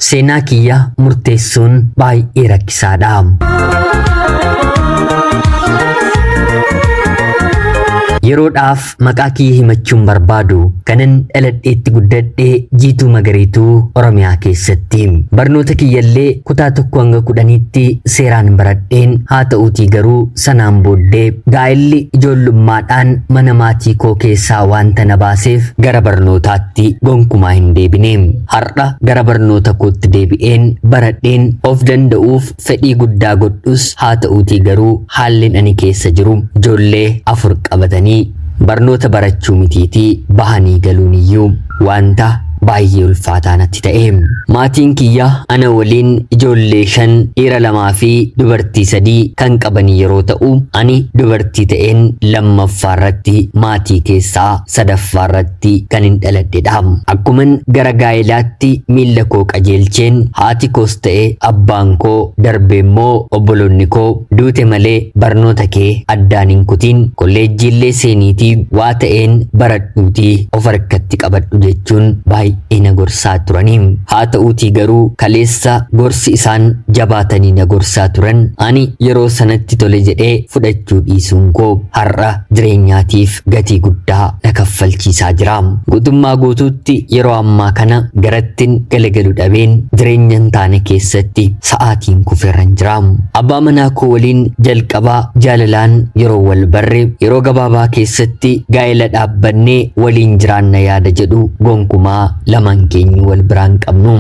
Seenaa kiyya murteessuun baay'ee rakkisaadha. Yeroodhaaf maqaa kiyya himachuun barbaadu kanan dhaladheetti guddadhe jiituu magariituu Oromiyaa keessatti. Barnoota kiyyallee kutaa tokko hanga kudhaniitti seeraan baradheen haa ta'uutii garuu sanaan booddee gaa'elli ijoollummaadhaan mana maatii koo keessaa wanta na baaseef gara barnootaatti gonkumaa hin deebine. Har'a gara barnoota kootti deebi'een baradheen of danda'uuf fedhii guddaa godhus haa ta'uutii garuu haallin ani keessa jiru ijoollee afur qabatanii barnoota barachuu mitiitii bahanii galuun iyyuu waanta baay'ee ulfaataa natti ta'e. Maatiin kiyya ana waliin ijoollee shan dhiira lamaa fi dubartii sadii kan qabanii yeroo ta'u ani dubartii ta'een lammaffaa irratti maatii keessaa sadaffaarratti kanin dhaladhedha. Akkuman gara gaa'elaatti miilla koo qajeelcheen haati koos ta'e abbaan koo darbee immoo obboloonni koo duute malee barnoota kee addaan hin kutiin kolleejjiillee seeniitii waa ta'een baradhuutii of harkatti qabadhu jechuun baay'ee na gorsaa turanii. Haa ta'uutii garuu kaleessa gorsi isaan jabaatanii na gorsaa turan ani yeroo sanatti tole jedhee fudhachuu dhiisuun koo har'a jireenyaatiif gatii guddaa na kaffalchiisaa jira. Guutummaa guutuutti yeroo ammaa kana garattin galagalu dhabeen jireenya hin taane keessatti sa'aatiin kufeerran jira. Abbaa manaa koo waliin jalqaba jaalalaan yeroo wal barre yeroo gabaabaa keessatti gaa'ela dhaabbannee waliin jiraanna yaada jedhu gonkumaa lamaan keenyu wal biraan qabnu.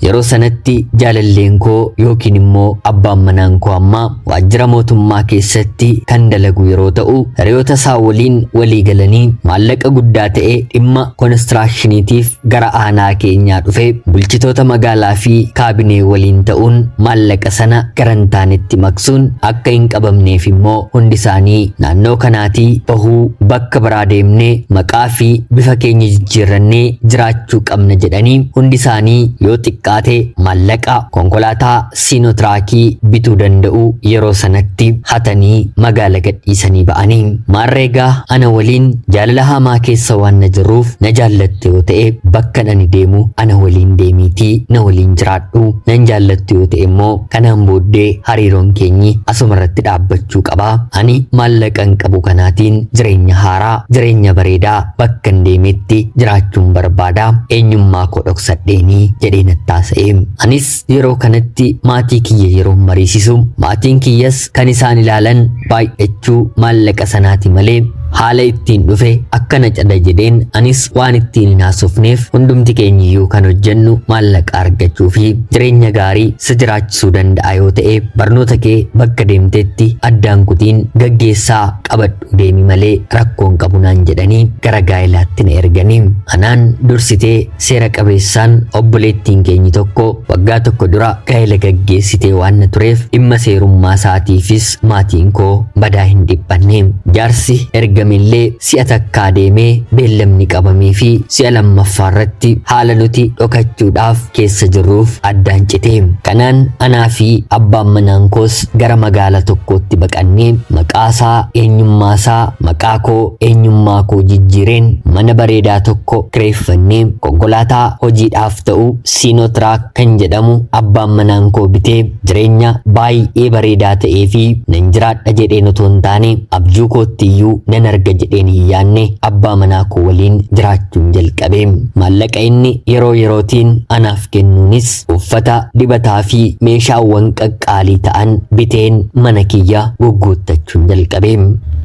Yeroo sanatti jaalalleen koo yookiin immoo abbaan manaan koo ammaa Waajjira mootummaa keessatti kan dalagu yeroo ta'u, hiriyoota isaa waliin walii galanii maallaqa guddaa ta'e dhimma konistiraakshiniitiif gara aanaa keenyaa dhufe bulchitoota magaalaa fi kaabinee waliin ta'uun maallaqa sana garantaanitti maqsuun akka hin qabamneef immoo hundi isaanii naannoo kanaatii bahuu bakka biraa deemnee maqaa fi bifa keenya jijjiirrannee jiraachuu qabna jedhanii hundi isaanii yoo xiqqaate maallaqa konkolaataa Siinotiraakii bituu danda'u yeroo sanatti hatanii magaala gadhiisanii ba'ani. Maarree egaa ana waliin jaalala hamaa keessa waan na jirruuf na jaallatte yoo ta'e bakkan ani deemu ana waliin deemiitii na waliin jiraadhu. Nan jaallattu yoo ta'e immoo kanaan booddee hariiroon keenyi asuma irratti dhaabbachuu qaba. Ani maallaqan qabu kanaatiin jireenya haaraa, jireenya bareedaa bakkan deemetti jiraachuun barbaada. Eenyummaa koo dhoksadheenii jedhee natti haasa'e. Anis Yeroo kanatti maatii kiyya yeroo mariisisu maatiin kiyyas kan isaan ilaalan baay'achuu maallaqa sanaati malee haala ittiin dhufe akkana cada jedheen anis waan ittiin hin haasofneef hundumti keenyiyyuu kan hojjennu maallaqa argachuu fi jireenya gaarii si jiraachisuu danda'a yoo ta'e barnoota kee bakka deemtetti addaan kutiin gaggeessaa qabadhu. Deemi malee rakkoo hin qabu naan jedhanii gara gaa'ilaatti na ergani. Anaan dursitee seera qabeessaan obboleettiin keenyi tokko waggaa tokko dura gaa'ila gaggeessitee waan na tureef dhimma seerummaa isaatiifis maatiin koo badaa hin dhiphanne. Jaarsi ergamillee si'a takkaa deemee beellamni qabameefi si'a lammaffaa irratti haala nuti dhokachuudhaaf keessa jirruuf addaan cite. Kanaan anaa fi abbaan manaan koos Gara magaala tokkootti baqannee maqaasaa, eenyummaasaa, maqaakoo, eenyummaakoo jijjiireen mana bareedaa tokko kireeffannee konkolaataa hojiidhaaf ta'u Siinootiraak kan jedhamu abbaan manaan koo bitee jireenya baay'ee bareedaa ta'ee fi nan jiraadha jedheen otoo hin taane abjuu koottiyyuu nan arga jedheen hin yaanne abbaa manaa koo waliin jiraachuun jalqabe. Maallaqa inni yeroo yerootiin anaaf kennuunis Uffata, dibataa fi meeshaawwan qaqqaalii ta'an biteen mana kiyya gugguuttachuun jalqabe.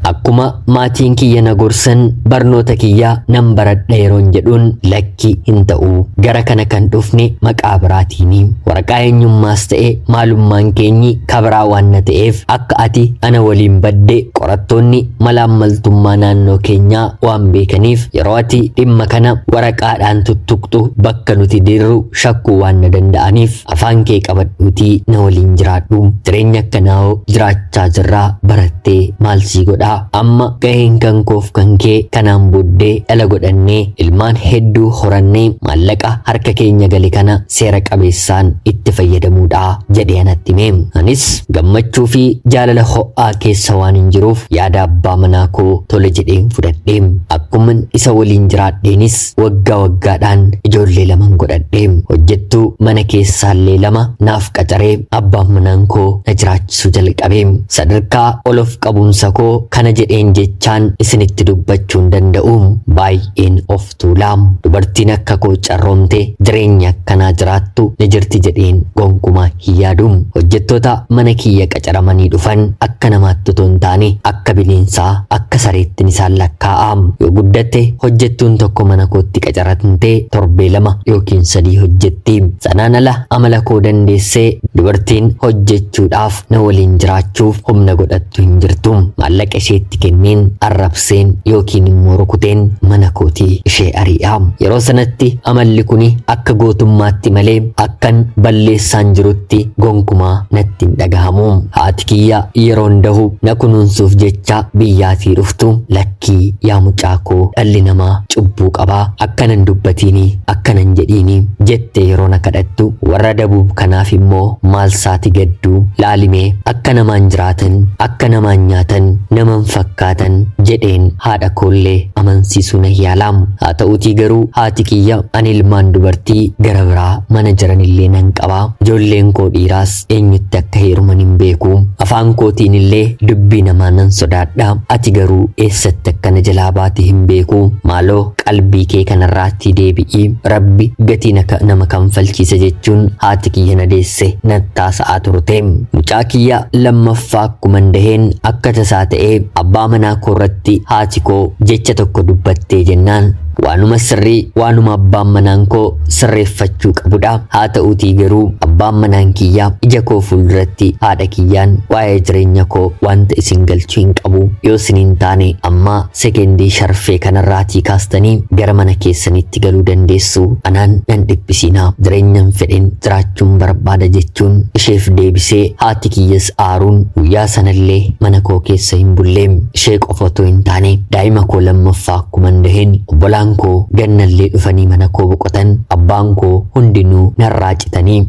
Akkuma maatiin kiyya na gorsan barnoota kiyya nan baradha yeroon jedhuun lakki hin ta'u. Gara kana kan dhufne maqaa biraatiini. Waraqaa eenyummaas ta'e maalummaan keenyi kabiraa waan na ta'eef akka ati ana waliin badde qorattoonni malaammaltummaa naannoo keenyaa waan beekaniif yeroo ati dhimma kana waraqaadhaan tuttuqxu bakka nuti dirru shakkuu waan na danda'aniif afaan kee qabadhuutii na waliin jiraadhu jireenya akkanaa'oo jiraachaa jirraa barattee maal sii godhaa amma gaheen kan koof kan kee kanaan booddee dhala godhannee ilmaan hedduu horannee maallaqa harka keenya gale kana seera qabeessaan itti fayyadamuudha jedhee anatti hime anis gammachuu fi jaalala ho'aa keessa waan hin jiruuf yaada abbaa manaa koo tole jedheen fudhadhe akkuman isa waliin jiraadheenis Waggaa waggaadhaan ijoollee laman godhadhe. Hojjettuu mana keessaallee lama naaf qacaree abbaan manaan koo na jiraachisuu jalqabe. Sadarkaa ol of qabuunsa koo kana jedheen jechaan isinitti dubbachuu hin danda'u. Baay'een of tuula. Dubartiin akka koo carroomte jireenya akkanaa jiraattu ni jirti jedheen gonkumaa hin yaadu. Hojjettoota mana kiyya qacaramanii dhufan akka namaatti otoo hin taane akka bineensaa akka sareettin isaan lakkaa'a yoo guddatte hojjettuun tokko mana kootti qacaramte torbee lama yookiin sadii hojjetti sanaan ala amala koo dandeessee dubartiin hojjechuudhaaf na waliin jiraachuuf humna godhattu hin jirtu maallaqa isheetti kenneen arrabseen yookiin immoo rukuteen mana kootii ishee ari'a yeroo sanatti amalli kun akka gootummaatti malee akkan balleessaan jirutti gonkumaa natti natti hin dhagahamu. Haati kiyya yeroo hundahu na kunuunsuuf jecha biyyaatii dhuftu lakkii yaa mucaa koo dhalli namaa cubbuu qaba akkana hin dubbatiini akkana hin jedhiini jettee yeroo na kadhattu warra dabuub kanaaf immoo maal saati gaddu laalime akka namaan jiraatan akka namaan nyaatan naman fakkaatan jedheen haadha koollee amansiisuu na yaalaam haa ta'uutii garuu haati kiyya ani ilmaan dubartii gara biraa mana jiranillee nan qaba qaba. Ijoolleen koo dhiiraas eenyutti akka heeruman hin beeku. Afaan kootiin illee dubbii namaa nan sodaadha. Ati garuu eessatti akka na jalaa baate hin beeku. Maaloo qalbii kee kanarraattii deebi'i. Rabbi gatii na ka- nama kanfalchiisa jechuun haati kiyya na deesse nattaasa'aa turte. Mucaa kiyya lammaffaa akkuman daheen akka tasaa ta'ee abbaa manaa koo irratti haati koo jecha tokko dubbattee jennaan Waanuma sirrii waanuma abbaan manaan koo sirreeffachuu qabudha. Haa ta'uutii garuu abbaan manaan kiyya ija koo fuulduratti haadha kiyyaan waa'ee jireenya koo wanta isin galchu hin qabu. Yoo isin hin taane amma sekendii sharfee kanarraatii kaastanii gara mana keessanitti galuu dandeessu. Anaan nan dhiphisiinaa jireenyan fedhen jiraachuun barbaada jechuun isheef deebisee haati kiyyas aaruun guyyaa sanallee mana koo keessa hin bulleem. Ishee qofa otoo hin taane daa'ima koo lammaffaa akkuman daheen obbolaan koo gannallee dhufanii mana koo boqotan abbaan koo hundinuu narraa citanii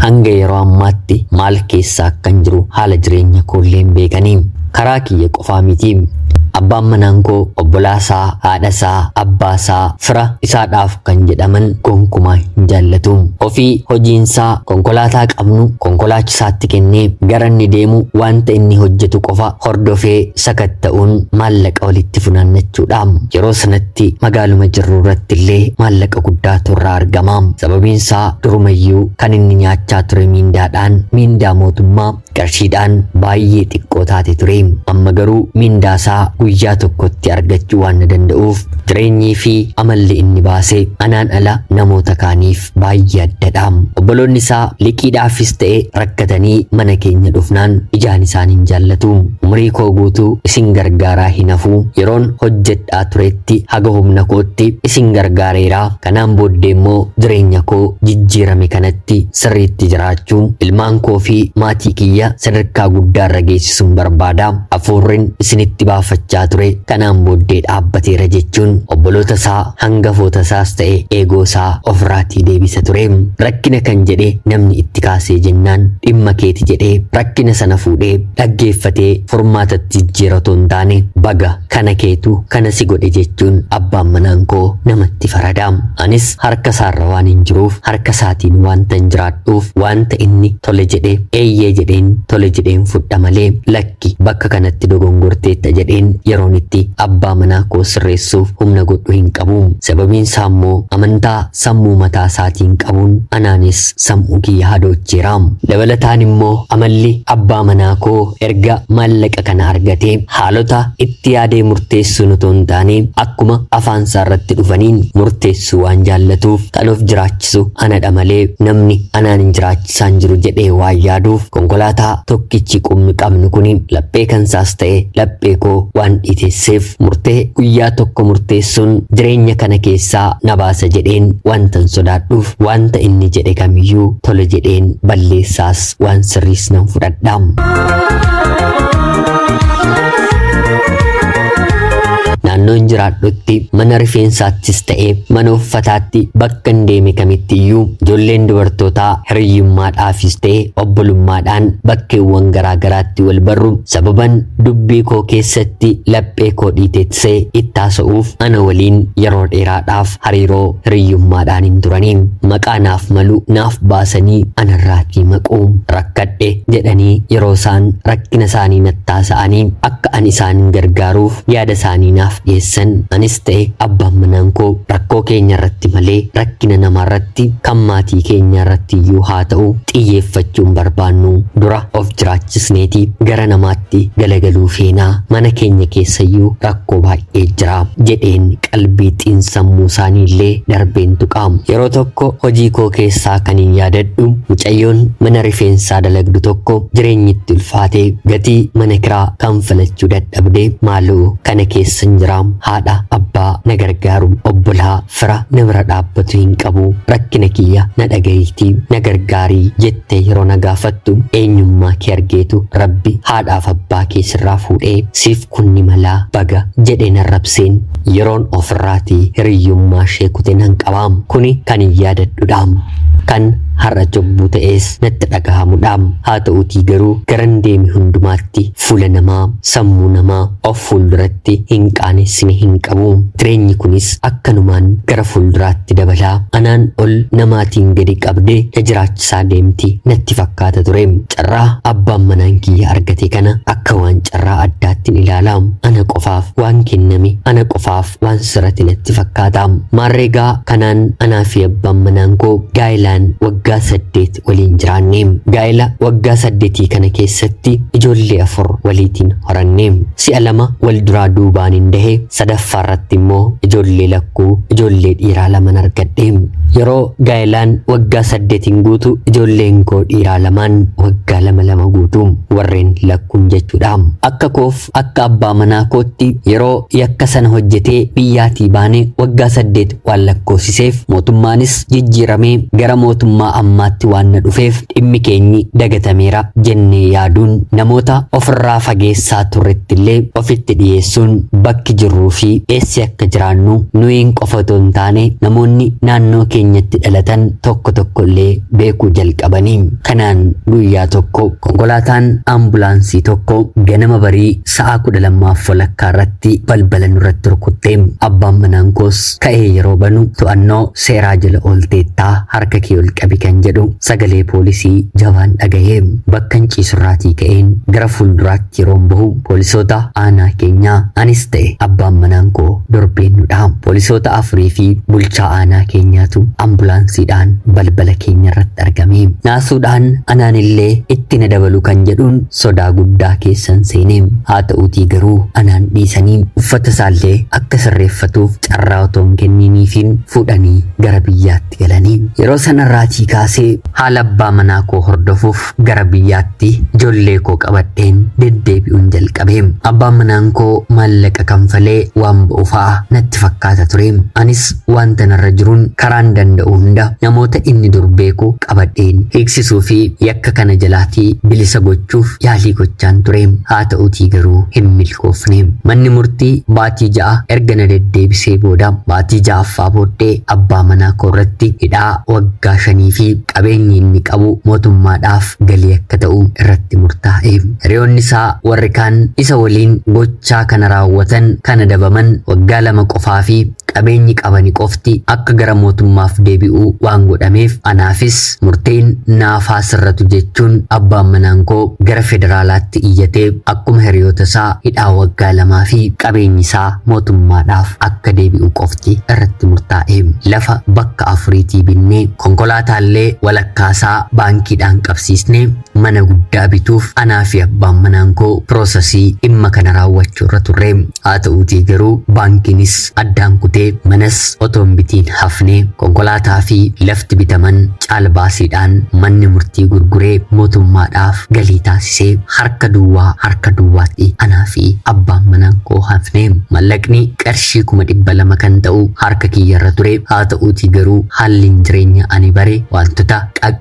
hanga yeroo ammaatti maal keessa akkan jiru haala jireenya koollee hin beekanii karaa kiyya qofaa miti abbaan manaan koo obbolaa isaa haadha isaa abbaa isaa fira isaadhaaf kan jedhaman gonkumaa hin jaallatu ofii hojiin isaa konkolaataa qabnu konkolaachisaatti kennee gara inni deemu wanta inni hojjetu qofa hordofee sakatta'uun maallaqa walitti funaannachuudha. Yeroo sanatti magaaluma jirru irratti illee maallaqa guddaatu irraa argama. Sababiin isaa durumayyuu kan inni nyaachaa ture miindaadhaan miindaa mootummaa qarshiidhaan baay'ee xiqqoo taate ture. Amma garuu miindaa isaa guyyaa tokkotti argachuu waan na danda'uuf jireenyii fi amalli inni baase anaan ala namoota kaaniif baay'ee addadha. Obboloonni isaa liqiidhaafis ta'e rakkatanii mana keenya dhufnaan ijaan isaan hin jaallatu. Umurii koo guutuu isin gargaaraa hin hafu. Yeroon hojjedhaa turetti haga humna kootti isin gargaareera. Kanaan booddee immoo jireenya koo jijjiirame kanatti sirriitti jiraachuu ilmaan koo fi maatii kiyya sadarkaa guddaa irra geessisuun barbaada. Hafuurrin isinitti baafachaa ture kanaan booddee dhaabbateera jechuun obboloota isaa hangafootasaas ta'e eegoosaa ofirraatii deebisa ture. Rakkina kan jedhe namni itti kaasee jennaan dhimma keeti jedhee rakkina sana fuudhee dhaggeeffatee furmaatatti jijjiira otoo hin taane baga kana keetu kana si godhe jechuun abbaan manaan koo namatti farada. Anis harka isaarra waan hin jiruuf harka isaatiin waantan jiraadhuuf waanta inni tole jedhe eeyyee jedheen tole jedheen fudha malee lakki Lakki, bakka kanatti dogongorteetta jedheen yeroon itti abbaa manaa koo sirreessuuf humna godhu hin qabu. Sababiin isaa immoo amantaa sammuu mataa isaatiin qabuun anaanis sam'uu kiyya hadoocheera. Dabalataan immoo amalli abbaa manaa koo erga maallaqa kana argatee haalota itti yaadee murteessuun otoo hin taane akkuma afaan isaa irratti dhufaniin murteessuu waan jaallatuuf kan of jiraachisuuf jiraachisu anadha malee namni anaan hin jiraachisaa hin jiru jedhee waan yaaduuf konkolaataa tokkichi qubni qabnu kuni laphee kansaas ta'e laphee koo waan dhiitesseef murtee guyyaa tokko murteessuun jireenya kana keessaa na baasa jedheen wantan sodaadhuuf wanta inni jedhe kamiyyuu tole jedheen balleessaas waan sirriis nan fudhadha. Naannoon jiraadhutti kamitti, mana rifeensaattis ta'e mana uffataatti, bakkan deeme kamittiyyuu ijoolleen dubartootaa hiriyyummaadhaafis ta'e obbolummaadhaan bakkeewwan garaa garaatti wal barru. Sababan dubbii koo keessatti laphee koo dhiitessee itti haasa'uuf ana waliin yeroo dheeraadhaaf hariiroo hiriyyummaadhaan hin turani. Maqaa naaf malu naaf baasanii anarraatii maqu. Rakkadhe jedhanii yeroo isaan rakkina isaanii natti haasa'anii akka ani isaan gargaaruuf yaada isaanii naaf dhiyeessan anis ta'e abbaan manaan koo rakkoo keenya irratti malee rakkina namaa irratti kan maatii keenyaa irratti iyyuu haa ta'u xiyyeeffachuun barbaannu dura of jiraachisneeti gara namaatti galagaluu feenaa mana keenya keessayyuu rakkoo baay'ee jira jedheen qalbii xiinsammuu isaanii illee darbeen tuqa yeroo tokko hojii koo keessaa kan hin yaadadhu mucayyoon mana rifeensaa dalagdu tokko jireenyitti ulfaate gatii mana kiraa kanfalachuu dadhabe dhabdee maaloo kana keessan jiraa haadha abbaa na gargaaru obbolaa fira na bira dhaabbatu hin qabu rakkina kiyya na dhagayiiti na gargaarii jettee yeroo na gaafattu eenyummaa kee argeetu rabbi haadhaaf abbaa kee sirraa fuudhee siif kunni malaa baga jedhee na rabseen yeroon ofirraati hiriyyummaa ishee kute nan qabaam kuni kan hin yaadadhudhaam kan har'a cubbuu ta'ees natti dhagahamudhaam haa ta'uutii garuu garan deemi hundumaatti Fuula namaa, sammuu namaa of fuulduratti hin qaanessine hin qabu. Jireenyi kunis akkanumaan gara fuulduraatti dabala. Anaan ol namaatiin gadi qabde na jiraachisaa deemti natti fakkaata ture. Carraa abbaan manaan kiyya argate kana akka waan carraa addaattin ilaala. Ana qofaaf waan kenname, ana qofaaf waan sirrate natti fakkaata. Maarreegaa kanaan anaa fi abbaan manaan koo gaa'ilaan waggaa saddeet waliin jiraanne. Gaa'ela waggaa saddetii kana keessatti ijoollee afur waliitiin horanne. Si'a lama wal duraa duubaanin dahe, sadaffaarratti immoo ijoollee lakkuu, ijoollee dhiiraa laman argadhe. Yeroo gaa'elaan waggaa saddetiin guutu ijoolleen koo dhiiraa lamaan waggaa lama lama guutu. Warreen lakkuun jechuudha. Akka koof akka abbaa manaa kootti yeroo yakka sana hojjetee biyyaatii baane waggaa saddeet waan lakkoofsiseef mootummaanis jijjiiramee gara mootummaa ammaatti waan na dhufeef dhimmi keenyi dagatameera jennee yaaduun namoota ofirraa fageessaa turrettillee ofitti dhiyeessuun bakki jirruu fi eessi akka jiraannu nuyiin qofa otoo hin taane namoonni naannoo keenyatti dhalatan tokko tokkollee beekuu jalqabanii kanaan guyyaa tokko konkolaataan ambulaansii tokko ganama barii Sa'aa kudha lammaaf walakkaa irratti balbala nurratti rukutte. Abbaan manaan koos ka'ee yeroo banu to'annoo seeraa jala oolteettaa harka kee ol qabi kan jedhu sagalee poolisii jabaan dhagahe. Bakkan ciisurraatii ka'een gara fuulduraatti yeroon bahu poolisoota aanaa keenyaa anis ta'e abbaan manaan koo dorbeennudha. Poolisoota afurii fi bulchaa aanaa keenyaatu ambulaansiidhaan balbala keenya irratti argame. Naasuudhaan anaanillee itti na dabalu kan jedhuun sodaa guddaa keessan seene. Haa ta'uutii garuu anaan dhiisanii uffata isaallee akka sirreeffatuuf carraa otoo hin kenniiniifiin fuudhanii gara biyyaatti galani. Yeroo sanarraatii kaasee haala abbaa manaa koo hordofuuf gara biyyaatti ijoollee koo qabadheen deddeebi'uun jalqabe. Abbaan manaan koo maallaqa kanfalee waan ba'u fa'a natti fakkaata ture. Anis Wanta narra jiruun karaan danda'u hunda namoota inni dur beeku qabadheen hiiksisuu fi yakka kana jalaatii bilisa gochuuf yaalii gochaan ture. Haa ta'utii garuu hin milkoofne. Manni murtii baatii ja'a erga na deddeebisee booda baatii ja'affaa booddee abbaa manaa koo irratti hidhaa waggaa shanii fi qabeenyi inni qabu mootummaadhaaf galii akka ta'u irratti murtaa'e. Hiriyoonni isaa warri kaan isa waliin gochaa kana raawwatan kan adabaman waggaa lama qofaa fi qabeenyi qabani qofti akka gara mootummaaf deebi'u waan godhameef anaafis murteen naaf haa sirratu jechuun abbaan manaan koo gara federaalaatti iyyatee akkuma hiriyoota isaa hidhaa waggaa lamaa fi qabeenyi isaa mootummaadhaaf akka deebi'u qofti irratti murtaa'e. Lafa bakka afuriitii binnee konkolaataallee walakkaasaa baankiidhaan qabsiisnee Mana guddaa bituuf anaa fi abbaan manaan koo piroosasii dhimma kana raawwachuu irra turre. Haa ta'uutii garuu baankiinis addaan kutee manas otoo hin bitiin hafne. Konkolaataa fi lafti bitaman caalbaasiidhaan manni murtii gurguree mootummaadhaaf galii taasisee harka duwwaa harka duwwaatti anaa fi abbaan manaan koo hafne. Mallaqni qarshii kuma dhibba lama kan ta'u harka kiyya irra ture. Haa ta'uutii garuu haalliin jireenya ani bare waantota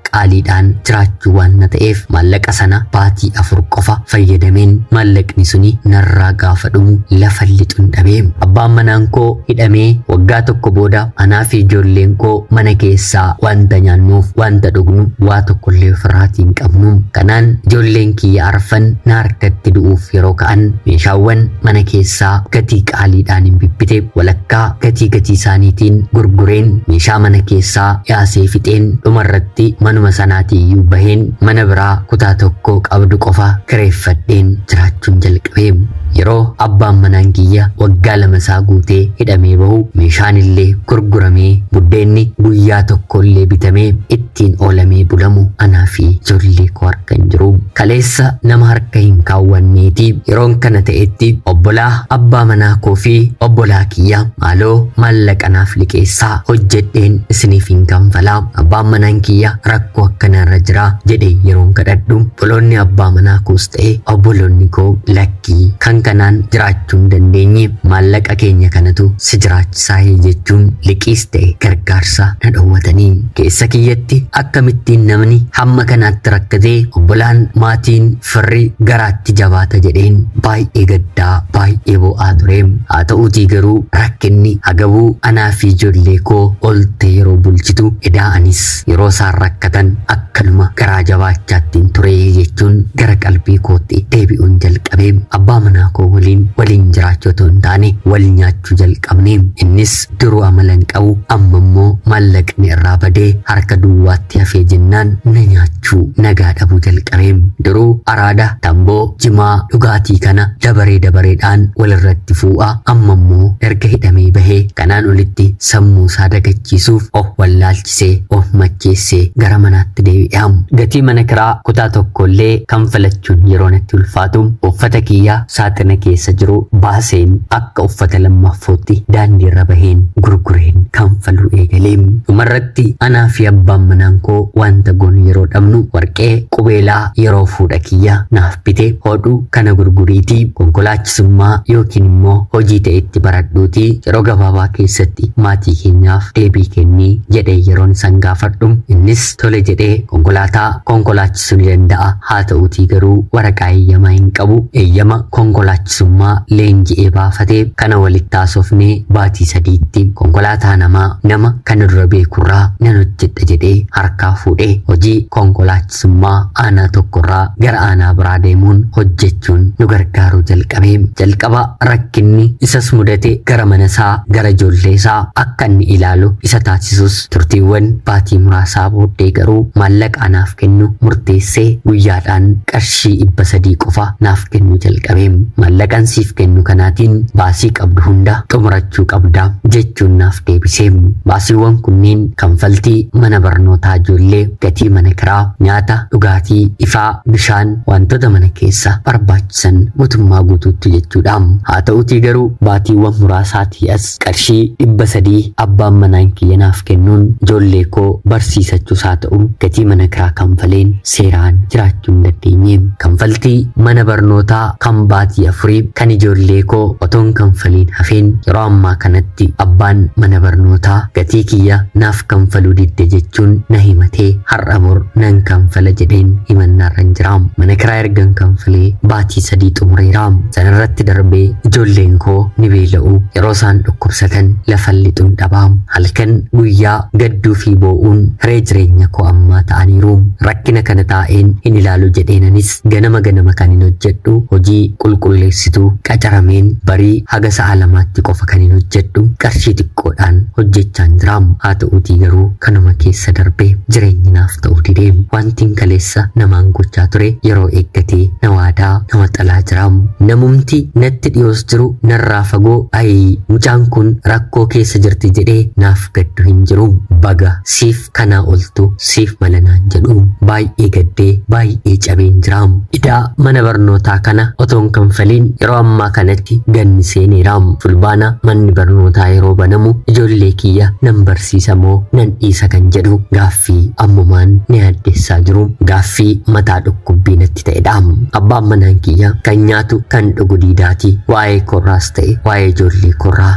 qaaliidhaan jiraachuu waan na ta'eef maallaqa sana baatii afur qofa fayyadameen maallaqni suni narraa gaafa dhumu lafa lixun dhabee abbaan manaan koo hidhamee waggaa tokko booda anaa fi ijoolleen koo mana keessaa wanta nyaannuuf wanta dhugnu waa tokkollee ofirraatii hin qabnu kanaan ijoolleen kiyya arfan na harkatti du'uuf yeroo ka'an meeshaawwan mana keessaa gatii qaaliidhaan hin bibbite walakkaa gatii gatii isaaniitiin gurgureen meeshaa mana keessaa yaasee fixeen dhumarratti manuma sanaatiiyyuu baheen mana biraa kutaa tokko qabdu qofa kireeffadheen jiraachuun jalqabe. Yeroo abbaan manaan kiyya waggaa lama isaa guutee hidhamee bahu meeshaan illee gurguramee buddeenni guyyaa tokko illee bitamee itti ittiin oolamee bulamu anaa fi ijoollee koo harka hin jiru. Kaleessa nama harka hin kaawwanneeti. Yeroon kana ta'etti obbolaa abbaa manaa koo fi obbolaa kiyya maaloo maallaqa naaf liqeessaa hojjedheen isiniif hin kanfala. Abbaan manaan kiyya rakkoo akkanaarra jira jedhee yeroon kadhadhu obboloonni abbaa manaa koos ta'e obboloonni koo lakkii kan kanaan jiraachuu hin dandeenye maallaqa keenya kanatu si jiraachisaa jechuun liqiis ta'e gargaarsa na dhowwatanii. Keessa kiyyatti akkamittiin namni hamma kanaatti rakkatee obbolaan, maatiin, firri garaatti jabaata jedheen baay'ee gaddaa, baay'ee boo'aa ture. Haa ta'uutii garuu rakkinni Hagabuu anaa fi ijoollee koo oltee yeroo bulchitu edaa anis yeroo isaan rakkatan akkanuma garaa jabaachaattiin ture jechuun gara qalbii kootti deebi'uun jalqabe. Abbaa manaa koo waliin waliin jiraachuu otoo hin taane wal nyaachuu jalqabne. Innis Duruu amala hin qabu amma immoo maallaqni irraa badee harka duwwaatti hafee jennaan na nyaachuu nagaa dhabuu jalqabe. Duruu araada, tamboo, jimaa, dhugaatii kana dabaree dabareedhaan wal irratti fuu'a amma immoo erga hidhamee bahee kanaan olitti sammuu isaa dagachiisuuf of wallaalchise of macheesse gara manaatti deebi'a. Gatii mana kiraa kutaa tokko illee kanfalachuun yeroo natti ulfaatu uffata kiyya saaxina keessa jiru baaseen akka akka uffata lammaaffootti daandiirra baheen gurgureen kanfaluu eegale. Dhumarratti anaa fi abbaan manaan koo wanta goonu yeroo dhabnu warqee qubeelaa yeroo fuudha kiyya naaf bite hodhu kana gurguriitii konkolaachisummaa yookiin immoo hojii ta'e itti baradhuutii yeroo gabaabaa keessatti maatii keenyaaf deebii kennii jedhee yeroon isan gaafadhu innis tole jedhee konkolaataa konkolaachisa Sun ni danda'a, haata'uutii garuu waraqaa eeyyamaa hin qabu. Eeyyama konkolaachisummaa leenji'ee baafate kana walitti haasofne baatii sadiitti konkolaataa namaa nama kana dura beekurraa nan hojjedha jedhee harkaa fuudhe. Hojii konkolaachisummaa aanaa tokkorraa gara aanaa biraa deemuun hojjechuun nu gargaaruu jalqabe. Jalqaba rakkinni isas mudate gara manasaa, gara ijoolleesaa akka inni ilaalu isa taasisus Turtiiwwan baatii muraasaa booddee garuu maallaqa anaaf kennu murteesse, guyyaadhaan qarshii 300 qofa naaf kennuu jalqabe. Maallaqan siif kennu kanaatiin baasii qabdu hunda xumurachuu qabda, jechuun naaf deebise. Baasiiwwan kunneen kanfaltii mana barnootaa ijoollee, gatii mana kiraa, nyaata, dhugaatii, ifaa, bishaan, waantota mana keessa barbaachisan gutummaa guutuuttu jechuudha. Haata'utii garuu baatiiwwan muraasaatii as qarshii 300 abbaan manaan kiyya naaf kennuun ijoollee koo barsiisachuus haa ta'u gatii mana kiraa kanfaleen seeraan jiraachuu hin dandeenye. Kanfaltii mana barnootaa kan baatii afurii kan ijoollee koo otoon kanfaliin hafeen yeroo ammaa kanatti abbaan mana barnootaa gatii kiyya naaf kanfaluu didde jechuun na himatee har'a bor nan kanfala jedheen himannaarran jira. Mana kiraa ergan kanfalee baatii sadii xumureera. Sanarratti darbee ijoolleen koo ni beela'u. Yeroo isaan dhukkubsatan lafan lixuun dhaba. Halkan guyyaa gadduu fi boo'uun hiree jireenya koo ammaa ta'aniiru. Rakkina kana taa'een hin ilaalu jedheen anis ganama ganama kanin hojjedhu hojii qulqulleessituu qacarameen barii haga sa'a lamaatti qofa kanin hojjedhu qarshii xiqqoodhaan hojjechaan jira. Haa ta'uutii garuu. Kanuma keessa darbee jireenyi naaf ta'uu dide. Waantin kaleessa namaan gochaa ture yeroo eeggatee na waadaa, na waxalaa jira. Namumti natti dhiyoos jiru narraa fagoo ayii mucaan kun rakkoo keessa jirti jedhee naaf gaddu hin jiru. Baga siif kanaa oltu siif mala naan jedhu. Baay'ee gaddee baay'ee cabeen jira. Idaa mana barnootaa kana otoon kanfaliin yeroo ammaa kanatti ganni seeneera. Fulbaana manni barnootaa yeroo banamu ijoollee kiyya nan barsiisa. siisa moo nan dhiisa kan jedhu gaaffii ammumaan na yaaddessaa jiru gaaffii mataa dhukkubbii natti ta'edha. Abbaan manaan kiyya kan nyaatu kan dhugu diidaati waa'ee korraas ta'e waa'ee ijoollee korraa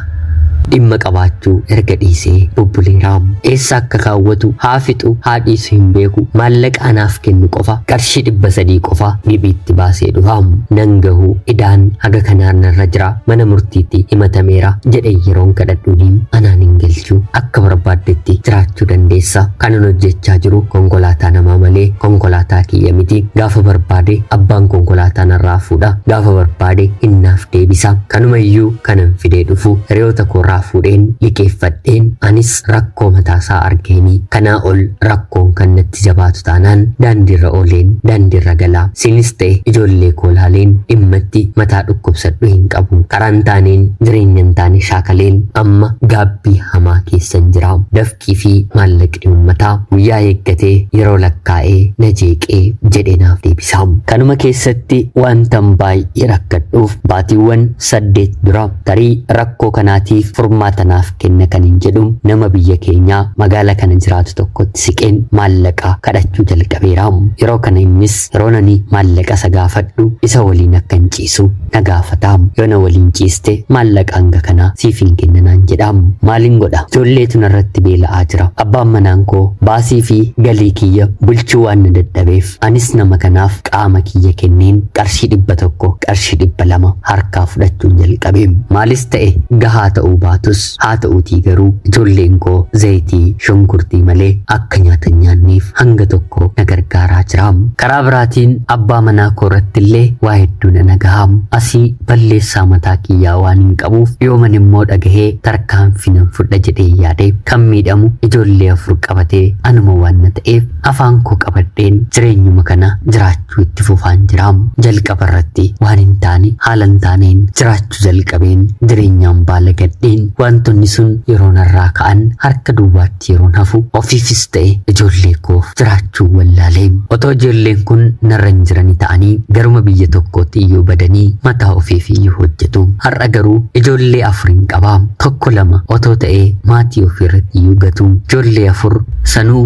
dhimma qabaachuu erga dhiisee bubbuleera. Eessa akka kaawwatu haa fixu haa dhiisu hin beeku maallaqa anaaf kennu qofa qarshii dhibba sadii qofa giphiitti baasee dhufa. Nan gahu idaan haga kanaan narra jira. mana murtiitti himatameera jedhee yeroon kadhadhuuni anaan hin galchu akka barbaaddetti jiraachuu dandeessa kanan hojjechaa jiru konkolaataa namaa malee konkolaataa kiyya miti gaafa barbaade abbaan konkolaataa narraa fuudha gaafa barbaade innaaf deebisa kanuma iyyuu kanan fidee dhufu hiriyoota koorraa fuudheen liqeeffadheen anis rakkoo mataasaa argeeni. Kanaa ol rakkoon kan natti jabaatu taanaan daandiirra ooleen daandiirra gala. Siinis ta'e ijoollee koo laaleen dhimmatti mataa dhukkubsadhu hin qabu. Karaan taaneen jireenyan taane shaakaleen amma gaabbii hamaa keessan jira. Dafqii fi maallaqni ummataa guyyaa eeggatee yeroo lakkaa'ee na jeeqee jedhee naaf deebisa. Kanuma keessatti wantan baay'ee rakkadhuuf baatiiwwan saddeet dura tarii rakkoo kanaatiif furmaata naaf Kenna kanin jedhu nama biyya keenyaa magaala kana jiraatu tokkotti siqeen maallaqa kadhachuu jalqabeera. Yeroo kana innis yeroon ani maallaqa isa gaafadhu isa waliin akkan ciisu na gaafata. Yoo na waliin ciiste maallaqa hanga kanaa siifin kenna naan jedha. Maalin godha? Ijoolleetu narratti beela'aa jira. Abbaan manaan koo baasii fi galii kiyya bulchuu waan na dadhabeef Anis nama kanaaf qaama kiyya kenneen qarshii dhibba tokko, qarshii dhibba lama harkaa fudhachuun jalqabe. Maalis ta'e gahaa ta'uu baatus haa ta'uutii garuu ijoolleen koo zayitii, shunkurtii malee akka nyaata hin nyaanneef hanga tokko na gargaaraa jira. Karaa biraatiin abbaa manaa koo irratti illee waa hedduu na dhagaha. Asii balleessaa mataa kiyyaa waan hin qabuuf yooman immoo dhagahee tarkaanfii nan fudha jedhee yaade. Kan miidhamu ijoollee afur qabatee anuma waan na ta'eef Afaan koo qabadheen jireenyuma kana jiraachuu itti fufaan jira. Jalqaba irratti waan hin taane haala hin taaneen jiraachuu jalqabeen jireenyaan baalagadheen wantoonni sun yeroo narraa ka'an harka duwwaatti yeroon hafu ofiifis ta'e ijoollee koof jiraachuu wallaalee. Otoo ijoolleen kun narra hin jirani ta'anii garuma biyya tokkootti iyyuu badanii mataa ofiif iyyuu hojjetu. Har'a garuu ijoollee afur hin qaba. Tokko lama otoo ta'ee maatii ofiirratti iyyuu gatu. Ijoollee afur Sanuu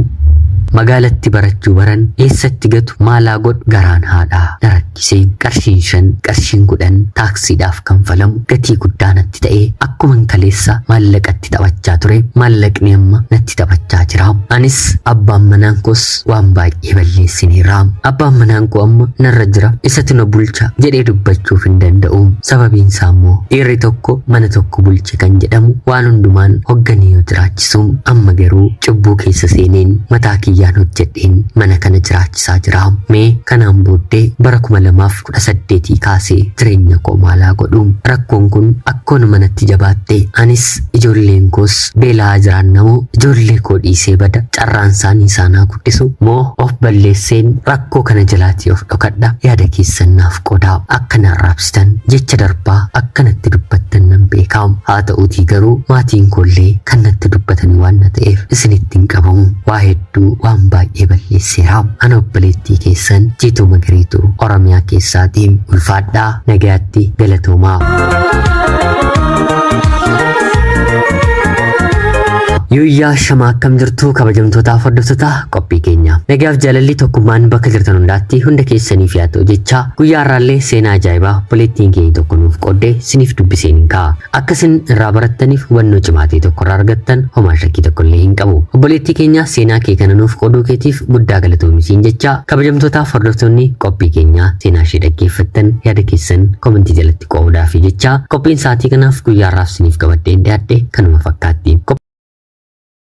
magaalatti barachuu baran eessatti gatu maalaa godhu garaan haadhaa na rakkise. Qarshiin shan, qarshiin kudhan taaksiidhaaf kanfalamu gatii guddaa natti ta'e. Akkuman kaleessa maallaqatti taphachaa ture maallaqni amma natti taphachaa jira. Anis abbaan manaan koos waan baay'ee. baay'ee balleessineera. Abbaan manaan koo amma narra jira isatu na bulcha jedhee dubbachuuf hin danda'u. Sababiin isaa immoo dhiirri tokko mana tokko bulche kan jedhamu waan hundumaan hogganee yoo jiraachisu amma garuu cubbuu keessa seeneen mataa kiyyaan hojjedheen mana kana jiraachisaa jira. Mee kanaan booddee bara 2018 kaasee jireenya koo maalaa godhu. Rakkoon kun akkoon manatti jabaatte anis ijoolleen koos beelaa jiraannamoo ijoollee koo dhiisee bada carraan isaanii isaanaa dhisu moo of balleesseen rakkoo kana jalaatii of dhokadha yaada keessan naaf qoodaa akka na arraabsitan jecha darbaa akka natti dubbattan nan beeka haa ta'uutii garuu maatiin koollee kan natti dubbatanii waan na ta'eef isinitti hin qabamu waa hedduu waan baay'ee balleesseera ana obboleettii keessan jiituu magariitu oromiyaa keessaatii ulfaadhaa nagaatti galatoomaa. Yooyyaa shama akkam jirtu kabajamtootaaf hordoftoota qophii keenya. Nagaaf jaalalli tokkummaan bakka jirtan hundaatti hunda keessaniif yaa ta'u jechaa guyyaa har'aallee seenaa ajaa'ibaa obboleettiin keenya tokko nuuf qooddee siniif dubbiseen hin ka'a. Akka isin irraa barattaniif hubannoo cimaa ta'e tokko irraa argattan homaa shakkii tokko illee hin qabu. Obboleettii keenya seenaa kee kana nuuf qooduu keetiif guddaa galatoomi siin jechaa kabajamtootaaf hordoftoonni qophii keenyaa seenaa ishee dhaggeeffattan yaada keessan komentii jalatti Qoodaa fi jechaa qophiin sa'aatii kanaaf guyyaarraaf siniif qabadheen dhiyaadhe kanuma fakkaatti.